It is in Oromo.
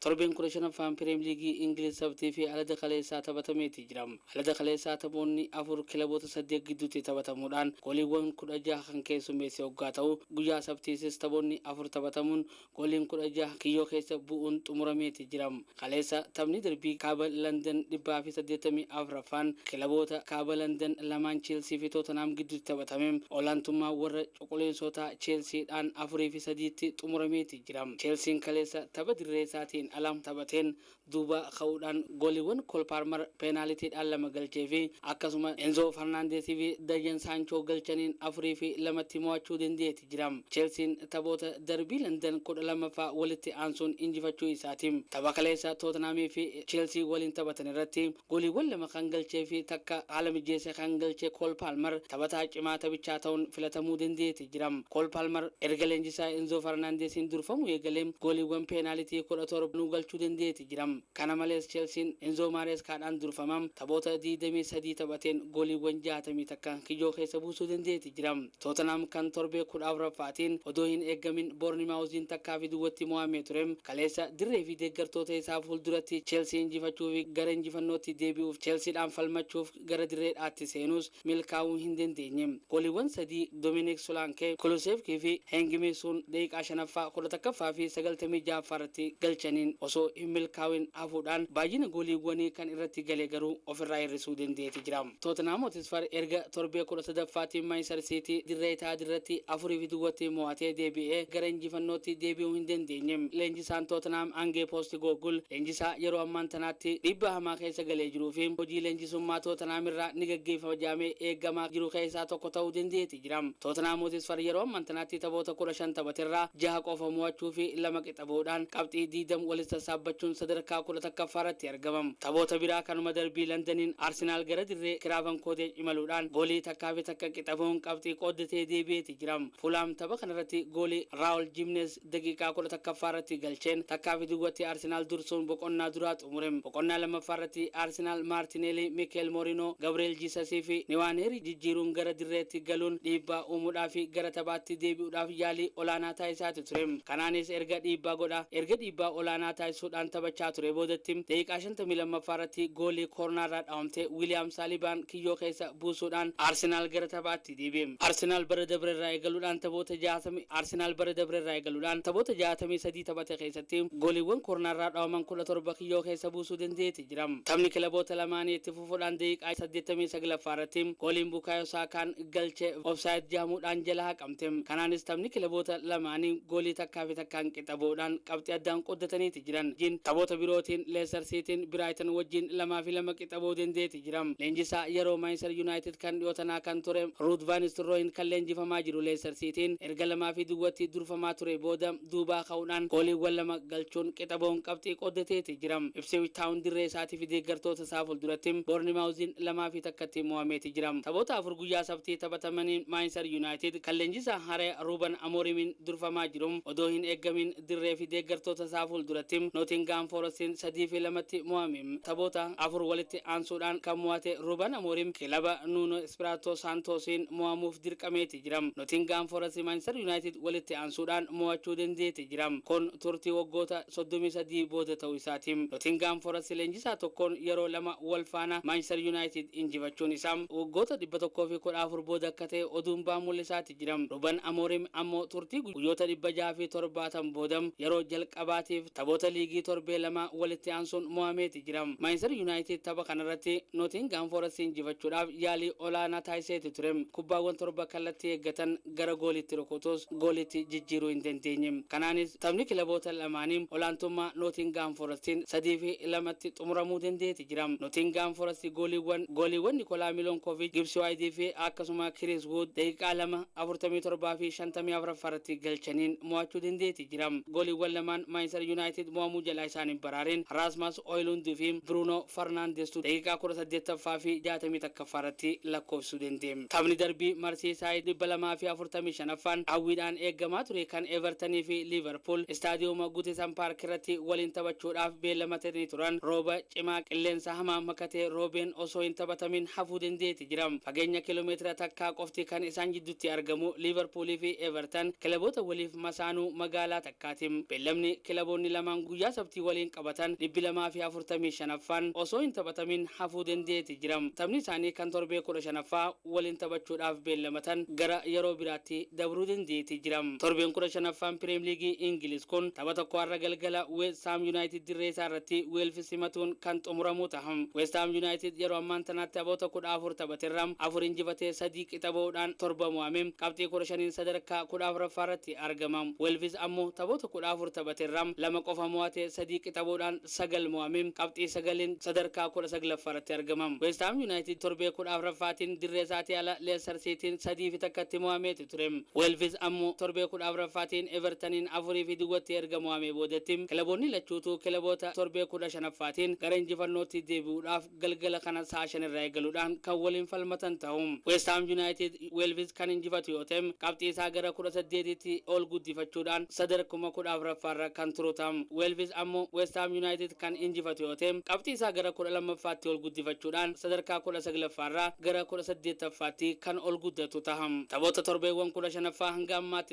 Torbeen 15ffaan Pireem Liigii Ingiliz Sabtii fi Alada kaleessaa taphatameeti jira. Alada kaleessaa taphoonni afur kilaboota saddeet gidduutti taphatamuudhaan gooliiwwan 16 kan keessummeesse hoggaa ta'u, guyyaa Sabtiisis taphoonni afur taphatamuun gooliin 16 kiyyoo keessa bu'uun xumurameeti jira. Kaleessa taphni darbii Kaaba Landan 184ffaan kilaboota Kaaba Landan lamaan Cheelsii fi Tootanhaam gidduutti taphatame olaantummaa warra cuquliinsootaa Cheelsiidhaan 4 fi 3tti xumurameeti jira. jira. Cheelsiin kaleessa tapha dirree isaatiin ala taphateen duubaa ka'uudhaan gooliiwwan Kool Paarmar peenaalitiidhaan lama galcheefi akkasuma Enzoo Farnaandeesiifi Dayyan Saanchoo galchaniin afuriifi lamatti mo'achuu dendeeti jira. Cheelsiin taphoota darbii Landan kudha lammaffaa walitti aansuun injifachuu isaati. Tapha kaleessa Tootenhaamiifi Cheelsii waliin taphatan irratti Gooliiwwan lama kan galchee fi takka haala mijjeessee kan galche Kool Paalmar taphataa cimaa taphichaa ta'uun filatamuu dandeetti jira. Kool Paalmar erga leenjisaa Enzoo Farnaandeesiin durfamuu eegalee gooliiwwan peenaalitii 17 nuu galchuu dandeetti jira. Kana malees Cheelsiin Enzoo Maareeskaadhaan durfama taphoota 23 taphateen gooliiwwan 60 takka kijoo keessa buusuu dandeetti jira. Tootanhaam kan torbee kudha afuraffaatiin odoo hin eeggamin Boornimaawuziin takkaa fi duwwatti mo'amee ture, kaleessa dirree fi deeggartoota isaa fuulduratti Cheelsii injifachuu fi gara injifannootti deebi'uuf Cheelsiidhaan falmachuuf gara dirreedhaatti seenuus milkaa'uu hin dandeenye. Gooliiwwan sadii Dominik Solaankee, Kulusevkii fi Heeng Mii Suun daqiiqaa shanaffaa, kudha takkaffaa fi sagaltamii ja'affaa irratti galchaniin osoo hin milkaawin hafuudhaan baayyina gooliiwwanii kan irratti gale garuu ofirraa hir'isuu dandeeti jira. Tootenhaam Hotisfar erga torbee 13ffaatiif Maanchistar Siitii dirree Itaahaadirratti 4 fi duwwatti mo'atee deebi'ee gara injifannootti deebi'uu hin dandeenye. Leenjisaan Tootenhaam Angee Poostigooggul leenjisaa yeroo ammaan tanaatti dhiibbaa hamaa keessa galee jiruufi hojii leenjisummaa Tootenhaam irraa ni gaggeeffama jedhamee eegamaa jiru keessaa tokko ta'uu dandeeti. jiram. Tootenhaam Hotisfar yeroo amman tanaatti taphoota 15 taphaterraa jaha qofa mo'achuu fi lama qixa bahuudhaan qabxii 20 walit sassaabbachuun sadarkaa 11ffaa irratti argamam. Taphoota biraa kanuma darbii Landaniin Arsenaal gara dirree Kiraavan Kooteej imaluudhaan goolii takkaa fi takka qixa bahuun qabxii qooddatee deebi'eeti jiram. Fuulhaam tapha kanarratti goolii Raawol Jiimneez Daqiiqaa kudha takkaffaa irratti galcheen takkaa fi duwwatti Arsenaal dursuun boqonnaa duraa xumure. Boqonnaa lammaffaa irratti Arsenaal Maartineelii, Mikeel Moorinoo, Gabri'eel Jiisasii fi Niwaaneerii jijjiiruun gara dirreetti galuun dhiibbaa uumuudhaa fi gara taphaatti deebi'uudhaaf yaalii olaanaa taasisaati ture. Kanaanis erga dhiibbaa godhaa erga dhiibbaa olaanaa taasisuudhaan taphachaa turee boodatti daqiiqaa shantamii lammaffaa irratti goolii koornaarraa dhawamte Wiliyaam Saalibaan kiyyoo keessa buusuudhaan Arsenaal gara taphaatti Arsenaalitti deebi'e. Arsenaal bara dabre irraa eegaluudhaan taphoota 60 Arsenaal bara dabre irraa eegaluudhaan taphoota 63 taphate keessatti gooliiwwan koornaa irraa dhawaman 17 kiyyoo keessa buusuu danda'eeti jira. Taphni kilaboota lamaanii itti fufuudhaan daqiiqaa 89ffaa irratti gooliin Bukaayoo Saakaan galche Offside jedhamuudhaan jala haqamte. Kanaanis taphni kilaboota lamaanii goolii takkaa fi takkaan qixa ba'uudhaan qabxii addaan qooddataniiti jiran. Jin taphoota birootiin Leester Siitiin Biraayitan wajjiin 2 fi 2 qixa ba'uu danda'eeti jira. hojjetamaa jira. Leenjisaa yeroo Maanchister Yunaayitid kan dhiyoo tanaa kan ture Ruud Vaan Nistelrooyin kan leenjifamaa jiru Leester Siitiin erga 2 fi duwwatti durfamaa turee booda duubaa ka'uudhaan gooliiwwan lama galchuun qixa ba'uun qabxii qooddateeti jira. Ipsiwich Taawun dirree isaatiifi deeggartoota isaa fulduratti Boornimaawuziin 2 fi 1tti mo'ameeti jira. Taphoota afur guyyaa Sabtii taphatamaniin Maanchister Yunaayitid kan leenjisaa haaraya Ruuban Amoorimiin durfamaa jiru odoo hin eeggamiin dirree fi deeggartoota isaa fuulduratti Nootingahaam Foorastiin 3 fi 2tti mo'ame. Taphoota afur walitti aansuudhaan kan mo'ate Ruuban Amoorim kilaba Nuunoo Ispiraatoo Saantoosiin mo'amuuf dirqameeti jira. Nootingahaam Foorasti Maanchistar Yuunaayitid walitti aansuudhaan mo'achuu dandeeti jira. Kun turtii waggoota 33 booda ta'uu isaati. Nootingahaam Foorasti leenjisaa tokkoon yeroo lama wal faana Maanchistar Yuunaayitid injifachuun isaa waggoota 114 booda akka ta'e oduun ba'an mul'isaati jira. Jijjiiram Ruben Amorim ammoo turtii guyyoota 670 booda yeroo jalqabaatiif taphoota liigii torbee lama walitti aansuun mo'ameeti jira. Maanchistar Yunaayitid tapha kanarratti Notingaam Foorastii injifachuudhaaf yaalii olaanaa taasiseeti ture. Kubbaawwan torba kallattii eeggatan gara gooliitti rukutus gooliitti jijjiiruu hin dandeenye. Kanaanis taphni kilaboota lamaanii olaantummaa Notingaam Foorastiin 3 fi 2tti xumuramuu dandeeti. Jiram. Notingaam Forasti gooliiwwan gooliiwwan Nikolaa Milonkooviich, Gibsi Waayitii fi akkasuma Kiriis Wuud daqiiqaa 2, 47 fi 54ffaa irratti galchaniin mo'achuu dandeetti. Jiram. Gooliiwwan lamaan Maanchistar Yunaayitid mo'amuu jalaa isaan hin baraareen Raasmas Hoyilund fi Biruunoo Farnaandestu daqiiqaa 18ffaa fi 61ffaa irratti lakkoofsisuu danda'e. Taphni darbii Marsiisaayid 245ffaan hawwiidhaan eegamaa ture kan Evertanii fi Liiverpuul Istaadiyooma Gutisan Paark irratti waliin taphachuudhaaf beellamatanii turan rooba cimaa qilleensa hamaa makatee roobeen osoo hin taphatamin hafuu dendeeti jira. Fageenya kilomeetira takkaa qofti kan isaan jiddutti argamu Liiverpuulii fi Evertan kilaboota waliif masaanuu magaalaa Kaatim, Beellamni kilaboonni lamaan guyyaa Sabtii waliin qabatan 245ffaan osoo hin taphatamin hafuu dandeeti jira. Taphni isaanii kan torbee 15ffaa waliin taphachuudhaaf beellamatan gara yeroo biraatti dabruu dandeeti jira. Torbeen 15ffaan Pireem Liigii Ingiliz kun tapha tokko har'a galgala Weest Haam Yunaayitid dirree isaa irratti Weelfs simatuun kan xumuramuu taha. Weest Haam Yunaayitid yeroo ammaan tanaa taphoota 14 taphaterra 4 injifatee 3 qixa bahuudhaan 7 mo'ame qabxii 15n sadarkaa 14ffaa irratti argama. argama. Welviz ammoo taphoota kudha afur taphaterraa lama qofa mo'atee sadii qixaboodhaan sagal mo'amee qabxii sagaliin sadarkaa kudha saglaffaarratti argama. Westhaam Yunaayitid torbee kudha afraffaatiin dirreesaatii ala Leestar Siitiin sadii fi takkatti mo'ameeti ture. Welviz ammoo torbee kudha afraffaatiin Evertaniin afurii fi duwwatti erga mo'amee boodatti kilaboonni lachuutuu kilaboota torbee kudha shanaffaatiin gara injifannootti deebi'uudhaaf galgala kana sa'a 5:00 irraa eegaluudhaan kan waliin falmatan ta'u. West Haam Yunaayitid Weelvis kan injifatu yoo ta'e qabxii isaa gara 18tti ol guddifachuudhaan sadarkuma 14ffaarra kan turu ta'a. Weelvis ammoo West Haam Yunaayitid kan injifatu yoo ta'e qabxii isaa gara 12ffaatti ol guddifachuudhaan sadarkaa 19ffaarraa gara 18ffaatti kan ol guddatu taha. Taphoota torbeewwan 15ffaa hanga ammaatti